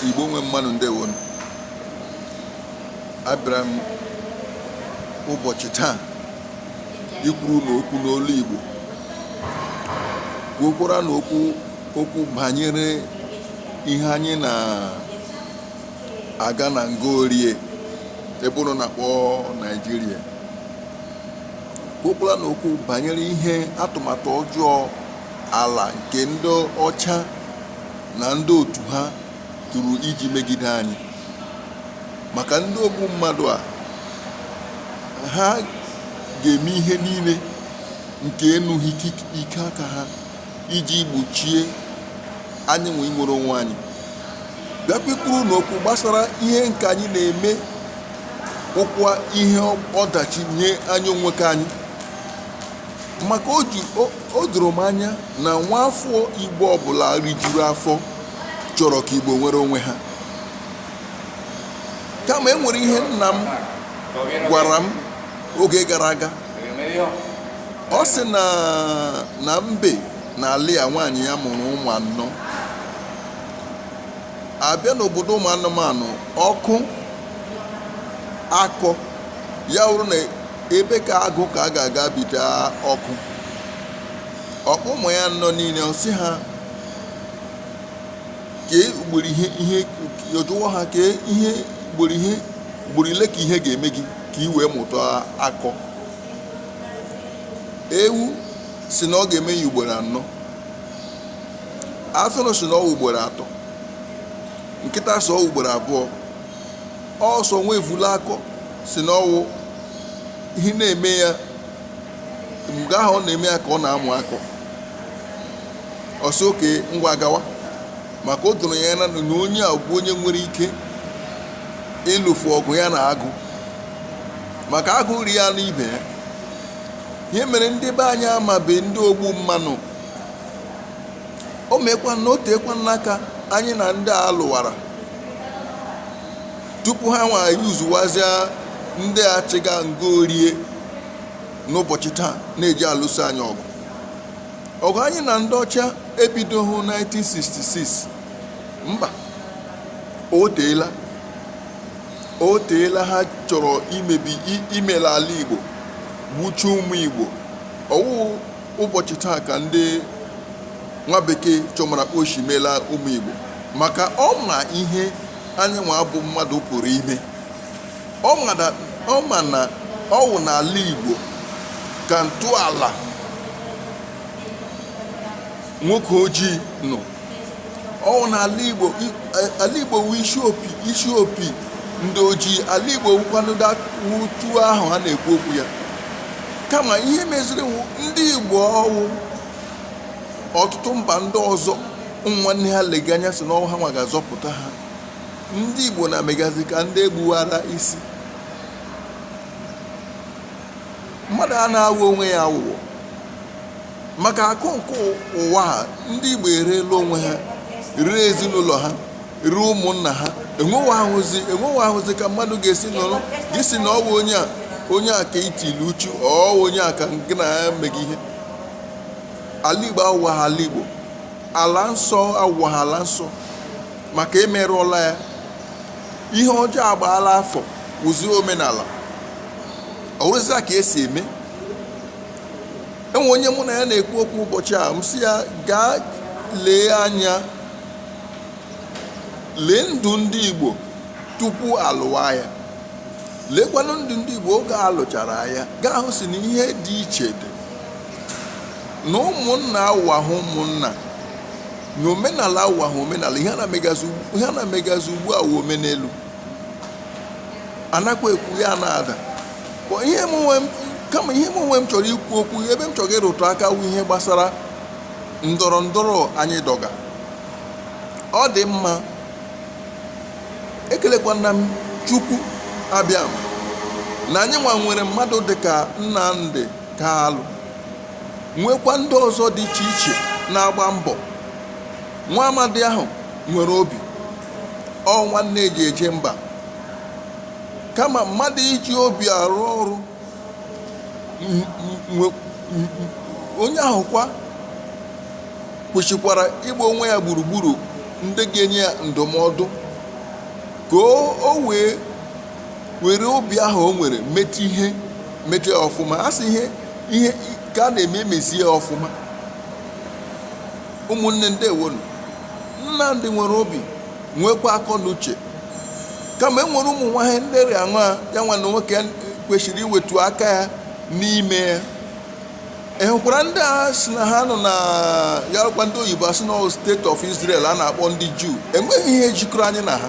igbo nwe mmanụ ndewonụ abịara m ụbọchị taa ikwuru ụnụ okwu n'olu igbo kwuokwara ụnụ okwu banyere ihe anyị na-aga na nga orie ebe ụnụ na-akpọ naijiria kwuokwara ụnụ okwu banyere ihe atụmatụ ọjọọ ala nke ndị ọcha na ndị otu ha tụrụ iji megide anyị maka ndị ogbu mmadụ a ha ga-eme ihe niile nke enughị ike aka ha iji gbochie anyị nwa inwere onwe anyị bịakwa ikwuru ụnụ okwu gbasara ihe nke anyị na-eme wụkwa ihe ọdachi nye anyị onwe ke anyị maka o doro m anya na nwa afọ Igbo ọbụla rijuru afọ chọrọ ka Igbo nwere onwe ha kama e nwere ihe nna m gwara m oge gara aga ọ sị na mbe na Alịa nwaanyị ya mụrụ ụmụ anọ a bịa n'obodo ụmụ anụmanụ ọkụ akọọ ya wụrụ na ebe ke agụ ka a ga-aga bite ọkụ ọ kpọọ ụmụ ya anọ niile ọ sị ha kee ugboro ihe ihe ọ jụwa ha kee ihe ugboro ihe ugboro ole ka ihe ga-eme gị ka ị wee mụta akọ ewu sị na ọ ga-eme ya ugboro anọ atụrụ sị na ọ wụ ugboro atọ nkịta sị ọ wụ ugboro abụọ ọ sọ nwa evula akọ sị na ọ wụ ihe na-eme ya mgbe ahụ ọ na-eme ya ka ọ na-amụ akọ ọ sị oke ngwa gawa maka o doro ya anya na onye a bụ onye nwere ike ịlụfu ọgụ ya na agụ maka agụ ri anụ ibe ya ihe mere ndị be anyị amabe ndị ogbu mmanụ o meekwana o teekwana aka anyị na ndị a lụwara tupu ha nwa yuzuwazia ndị achịga nga orie n'ụbọchị taa na-eji alụso anyị ọgụ ọgụ anyị na ndị ọcha ebidoghị 1966 mba o teela o teela ha chọrọ imebi i- imela ala igbo gbuchie ụmụ igbo ọ wụ ụbọchị taa ka ndị nwa bekee chọmara oshi meela ụmụ igbo maka ọ ma ihe anyị nwa bụ mmadụ pụrụ ime ọ ma na ọ wụ n'ala igbo ka ntọala nwoke ojii nọ ọwụ na ala igbo i- a- ala igbo wu isi opi isi opi ndị ojii ala igbo wukwanụ da- wu tuo ahụ ha na-ekwu okwu ya kama ihe meziri wụ ndị igbo ọwụ ọtụtụ mba ndị ọzọ ụmụ nwanne ha lega anya si n'ọwụ ha nwa ga-azọpụta ha ndị igbo na-amegazi ka ndị egbuwara isi mmadụ a na-awọ onwe ya awụwọ maka akụ nke ụwa ha ndị igbo ereela onwe ha ree ezinụlọ ha ree ụmụnna ha enwewahụzi enwewahụzi ka mmadụ ga-esi nọrọ gị si na ọwụ onye a onye a ka itili uchu ọwụ onye a ka gị na ya meghị ihe ala igbo awụwahụ ala igbo ala nsọ awụwahụ ala nsọ maka emerụọla ya ihe ọjọọ agbaala afọ wụzie omenala ọwụrụzia ka esi eme enwe onye mụ na ya na-ekwu okwu ụbọchị a m sị ya gaa lee anya lee ndụ ndị Igbo tupu alụwa aya leekwanụ ndụ ndị Igbo oge alụchara aya gaa hụ si na ihe dị iche dị na ụmụnna awụwahụ ụmụnna na omenala awụwahụ omenala ihe a na-emegazi ugbu a wụ omenelu anakwa ekwu ya na-ada Kama ihe m onwe m chọrọ ikwu okwu ebe m chọrọ ịrụtụ aka wu ihe gbasara ndọrọ ndọrọ anyị dọga ọ dị mma ekelekwana m chukwu abịama na anyị nwa nwere mmadụ dịka nnamdị kalụ nwekwa ndị ọzọ dị iche iche na-agba mbọ nwa amadi ahụ nwere obi ọ nwanne eji eje mba Kama mmadụ iji obi arụ ọrụ, m- m- nwe- m- m- onye ahụ kwa kwesịkwara ịgba onwe ya gburugburu ndị ga-enye ya ndụmọdụ ka o o wee were obi ahụ o nwere meta ihe meta ya ọfụma a sị ihe ihe ka a na-eme emezie ya ọfụma ụmụnne ndewonu nnamdị nwere obi nwekwa akọ na uche kama e nwere ụmụ nwa ihe ndị rị aṅụa ya nwa na nwoke kwesịrị iwetu aka ya n'ime ya ị hụkwara ndị a si na ha nọ na ya rụkwa ndị oyibo asị na state of Israel a na-akpọ ndị Juu enweghị ihe jikọrọ anyị na ha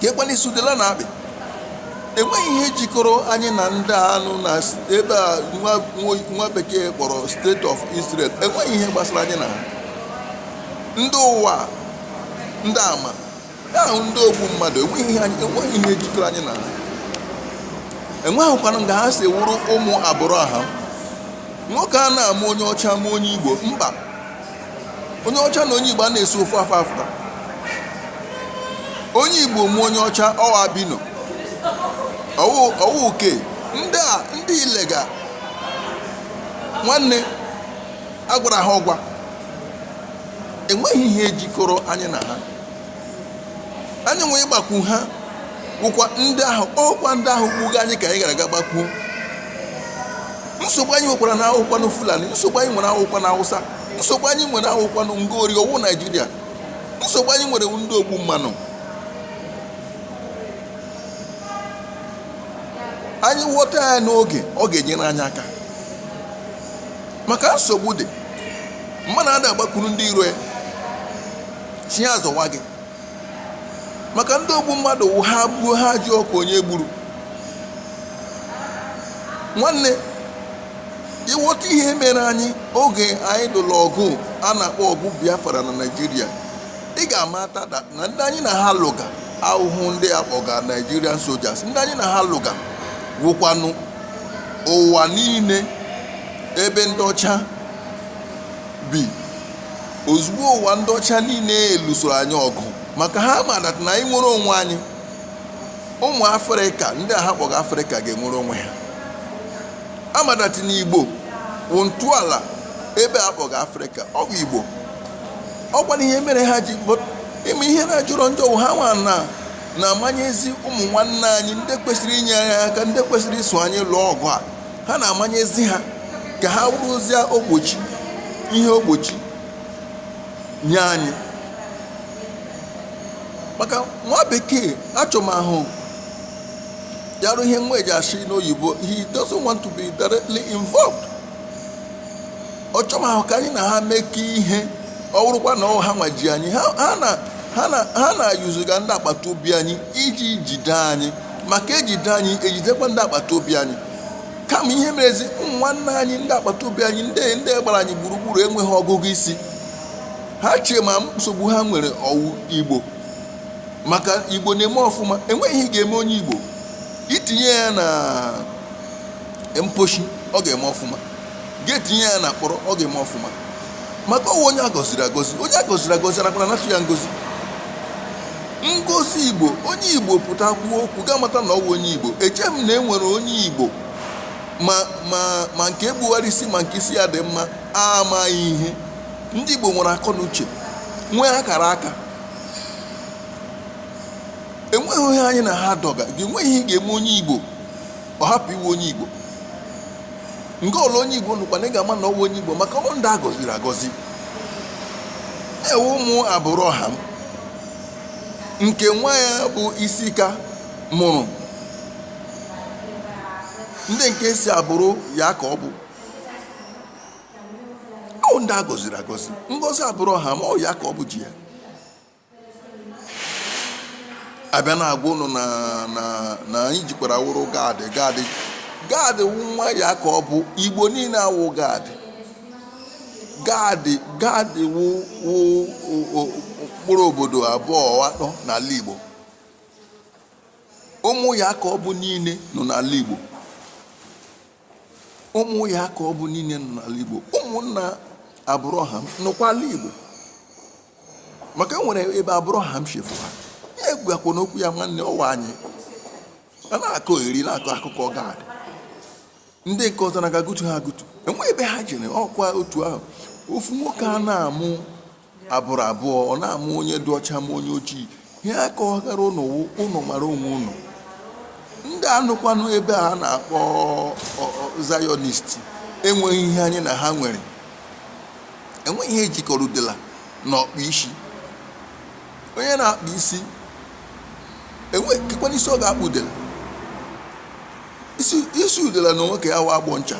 ka ekwela isi udele na-akpị enweghị ihe jikọrọ anyị na ndị a nọ na s- ebe a nwa nwa- nwa bekee kpọrọ state of israel enweghị ihe gbasara anyị na ha ndị ụwa ndị ama ahụ ndị ogbu mmadụ enweghị ihe anyị- enweghị ihe jikọrọ anyị na ha enweghịkwanụ nga ha si wụrụ ụmụ abraham nwoke a na-amụ onye ọcha mụọ onye igbo mba onye ọcha na onye igbo a na-esi ofu afọ afụta onye igbo mụọ onye ọcha ọ wụ albino ọ wụ uke ndị a ndị ị lega nwanne a gwara ha ọgwa enweghị ihe jikọrọ anyị na ha anyị nwee ịgbakwu ha wụkwa ndị ahụ ọkwa ndị ahụ gbuga anyị ka anyị gara aga gbakwu nsogbu anyị nwekwara na awụkwanụ fulani nsogbu anyị nwere awụkwanụ awụsa nsogbu anyị nwere awụkwanụ ngori ọ wụ naijiria nsogbu anyị nwere ndị ogbu mmanụ anyị ghọta ya n'oge ọ ga-enyere anyị aka maka nsogbu dị mmadụ ada agbakwuru ndị iro ya sị ya zọwa gị maka ndị ogbu mmadụ wụ ha gbuo ha ajụọkwa onye gburu nwanne ị ghọta ihe mere anyị oge anyị lụrụ ọgụ a na-akpọ ọgụ biafra na naijiria ị ga-amata da- na ndị anyị na ha lụga awụhụ ndị a kpọga nigerian soldiers ndị anyị na ha lụga wụkwanụ ụwa niile ebe ndị ọcha bi Ozugbo ụwa ndị ọcha niile lụsoro anyị ọgụ maka ha ma that na anyị nwere onwe anyị ụmụ afrịka ndị a ha kpọga afrịka ga-enwere onwe ha ha ma that na igbo wụ ntọala ebe a kpọga afrịka ọ bụ igbo ọkwanụ ihe mere ha ji but ị ma ihe na-ajọrọ njọ wụ ha nwa na na-amanyezi ụmụ nwanne anyị ndị kwesịrị inye anyị aka ndị kwesịrị iso anyị lụọ ọgụ a ha na-amanyezi ha ka ha wụrụzie ogbochi ihe ogbochi nye anyị maka nwa bekee achọmahụ ya rụ ihe nwa e ji asị n'oyibo he doesn't want to be directly involved ọ chọmahụ ka anyị na ha mekọ ihe ọ wụrụkwa na ọ ha nwa ji anyị ha ha na ha na ha na-ayuzuga ndị agbata obi anyị iji jide anyị maka e jide anyị e jidekwa ndị agbata obi anyị kama ihe merezi ụmụ nwanne anyị ndị agbata obi anyị ndị ndị gbara anyị gburugburu enweghị ọgụgụ isi ha chee ma nsogbu ha nwere ọ wụ igbo maka igbo na-eme ọfụma enweghị ihe ị ga-eme onye igbo i tinye ya na mposhi ọ ga-eme ọfụma ga-etinye ya na mkpọrọ ọ ga-eme ọfụma maka ọ wụ onye agọziri agọzi onye agọziri agọzi anakwa anatụ ya ngozi ngozi igbo onye igbo pụta kwuo okwu ga-amata na ọ wụ onye igbo eche m na e nwere onye igbo ma ma ma nke egbugharị isi ma nke isi ya dị mma amaghị ihe ndị igbo nwere akọ na uche nwee akara aka enweghị onye anyị na ha dọga enweghị ihe ga-eme onye igbo ọ hapụ ịwụ onye Igbo nga ọla onye Igbo nọkwanụ ị ga-ama na ọ wụ onye Igbo maka ọ wụ ndị a gọziri agọzi ewe ụmụ Abraham nke nwa ya bụ Isaac mụrụ ndị nke si agbụrụ Yakọb ọ wụ ndị a gọziri agọzi ngọzi Abraham ọ wụ Yakọb ji ya a bịa na-agwa ụnụ na na na anyị jikwara wụrụ Gad Gad Gad wụ nwa Yakọb igbo niile awụ Gad Gad Gad wụ wụ o- o- mkpụrụ obodo abụọ atọ n'ala igbo ụmụ Yakọb niile nọ n'ala igbo ụmụ Yakọb niile nọ n'ala Igbo ụmụnna Abraham nọkwa n'ala Igbo maka e nwere ebe Abraham chefu ha ya egwakwa n'okwu ya nwanne ọ wụ anyị a na-akọ Eri na-akọ akụkọ Gad ndị nke ọzọ na-aga gụtu ha agụtu enweghị ebe ha jere ọ kwa otu ahụ ofu nwoke a na-amụ agbụrụ abụọ ọ na-amụ onye dị ọcha ma onye ojii ihe a kọgara ụnụ wụ ụnụ mara onwe ụnụ ndị a nọkwanụ ebe a na-akpọ Zionist enweghị ihe anyị na ha nwere enweghị ihe jikọrọ udela na ọkpụ isi onye na-akpụ isi kekwanụ isi ọ ga-akpụ udela isi udela na onwe ke ya wụ agbọ ncha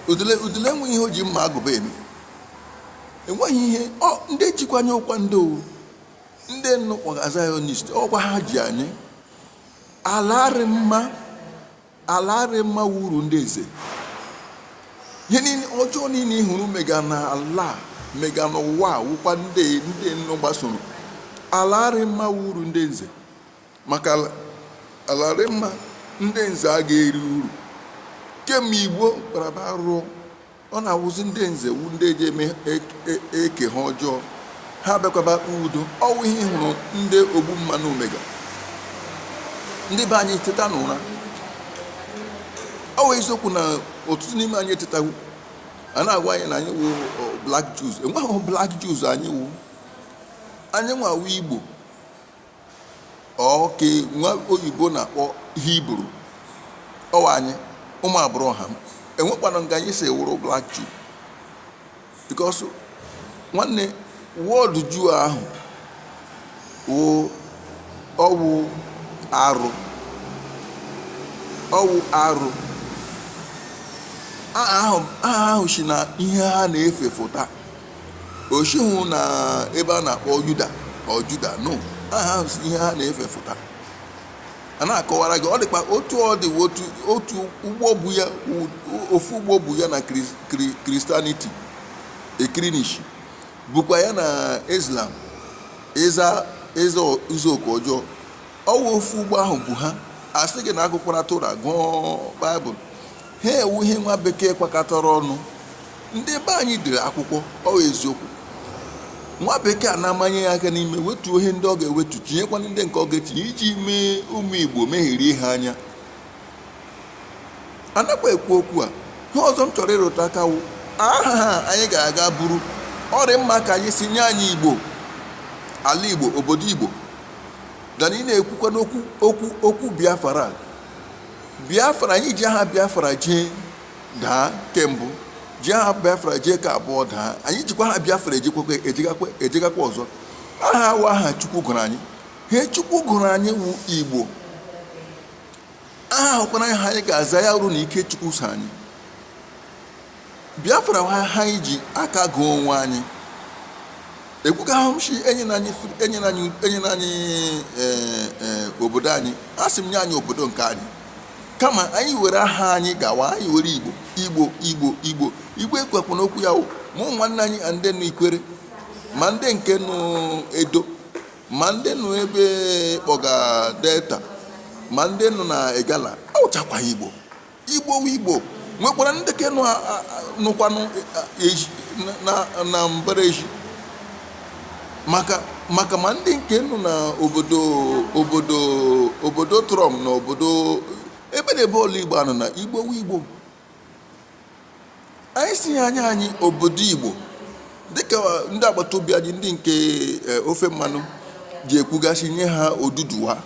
udele udele enweghị ihe o ji mma agụba eme enweghị ihe ọ ndị jikwa anyị wụkwa ndị ọ wụ ndị ụnụ kpọga zionist ọ kwa ha ji anyị ala arị mma ala arị mma wụ uru ndị nze ihe niile ọjọọ niile ị hụrụ mega na ala mega n'ụwa wụkwa ndị ndị ụnụ gbasoro ala arị mma wụ uru ndị nze maka ala- ala arị mma ndị nze a ga-eri uru kemgbe igbo kparaba arụrụ ọ na-awụzi ndị nze wụ ndị e ji eme ek- e- eke ha ọjọọ ha bịakwaba akpa udo ọ wụ ihe ị hụrụ ndị ogbu mma nọ mega ndị be anyị teta n'ụra ọ wụ eziokwu na ọtụtụ n'ime anyị etetawu a na-agwa anyị na anyị wụ ọ, black jews enweghị black jews anyị wụ anyị nwa wụ igbo ọ ke nwa oyibo na-akpọ hibru ọ wụ anyị ụmụ abraham enwekwanụ nga anyị si wụrụ black jew because nwanne word jew ahụ wụ ọwụ arụ ọwụ arụ aha ahụ aha ahụ si na ihe ha na-efe fụta o sighị na ebe a na-akpọ yuda ọ juda no aha ahụ si ihe ha na-efe fụta a na-akọwara gị ọ dịkwa otu ọ dị otu otu ụgbọ bu ya u- ofu ụgbọ bu ya na Kris- Kri- kristianity ekirinishi bukwa ya na islam ịza ịza ụzọụka ọjọọ ọwụ ofu ụgbọ ahụ bu ha asị gị na agụkwara tora gụọ baịbụl ha wụ ihe nwa bekee kwakọtara ọnụ ndị be anyị dere akwụkwọ ọ eziokwu nwa bekee a na-amanye ya aka n'ime wetuo ihe ndị ọ ga-ewetu tinyekwana ndị nke ọ ga-etinye iji mee ụmụ igbo mehirie ha anya anakwa ekwu okwu a ihe ọzọ m chọrọ ịrụta aka wụ aha anyị ga-aga buru ọ rị mma ka anyị sị nye anyị igbo ala igbo obodo igbo than ị na-ekwukwanụ okwu okwu okwu biafra biafra anyị ji aha biafra jee daa ke mbụ ji aha biafra jee ke abụọ daa anyị jikwa aha biafra ejekwekwe ejegakwa ejegakwa ọzọ aha awụ aha chukwu gụrụ anyị ihe chukwu gụrụ anyị wụ igbo aha ahụkwara aha anyị ga-aza ya wụrụ na ike chukwu so anyị Biafra wụ aha anyị ji aka gụọ onwe anyị ekwukwahụ m shị enyela anyị fri- enyela anyị enyela anyị eh, eh, obodo anyị asị m nye anyị obodo nke anyị kama anyị were aha anyị gawa anyị were igbo igbo igbo igbo igbo ekwekwa n'okwu ya ụmụ nwanne anyị na ndị nụ ikwere ma ndị nke nụ edo ma ndị nụ ebe a kpọga delta ma ndị nụ na igala awụchakwa igbo Igbo wụ Igbo nwekwara ndị ke nụ a- a- a- nụkwanụ a- a- eji- na- na- na mbara ezi maka maka ma ndị nke nụ na obodo obodo obodo trump na obodo ebe na ebe ọla igbo anọ na igbo wụ igbo anyị sị ha nye anyị obodo igbo dịka ndị agbata obi anyị ndị nke eh, ofe mmanụ ji ekwuga sị nye ha oduduwa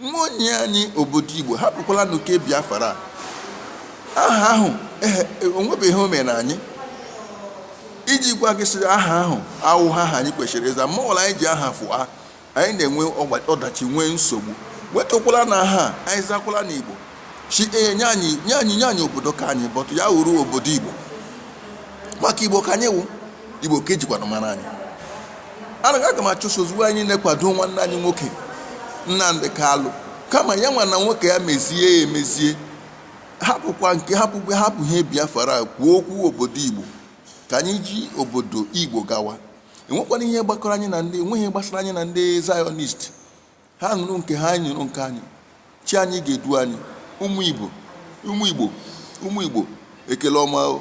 Ngwa nye anyị obodo Igbo hapụkwalanụ ke Biafra aha ahụ onwebeghị ihe o mere anyị iji gwa gị sị aha ahụ awụhụ aha anyị kwesịrị ịza ma ọbụla anyị ji aha fụa anyị na-enwe ọdachi nwee nsogbu wetukwalanụ aha anyị zakwalanụ Igbo si ee nye anyị nye anyị nye anyị obodo ka anyị bọtụ ya wụrụ obodo igbo maka igbo ka anyị wụ igbo ka e jikwanụ mara anyị anaghị aga m achụso ozugbo anyị na-ekwado nwanne anyị nwoke Nnamdi Kalụ kama ya nwanna nwoke ya mezie ya emezie hapụkwa nke hapụkwa hapụ ihe Biafra kwuo okwu obodo igbo ka anyị ji obodo igbo gawa enwekwana ihe gbakọrọ anyị na ndị enweghị gbasara anyị na ndị zionist ha nọrọ nke ha anyị nọrọ nke anyị chi anyị ga-edu anyị ụmụ igbo ụmụ igbo ụmụ igbo ekele ọma o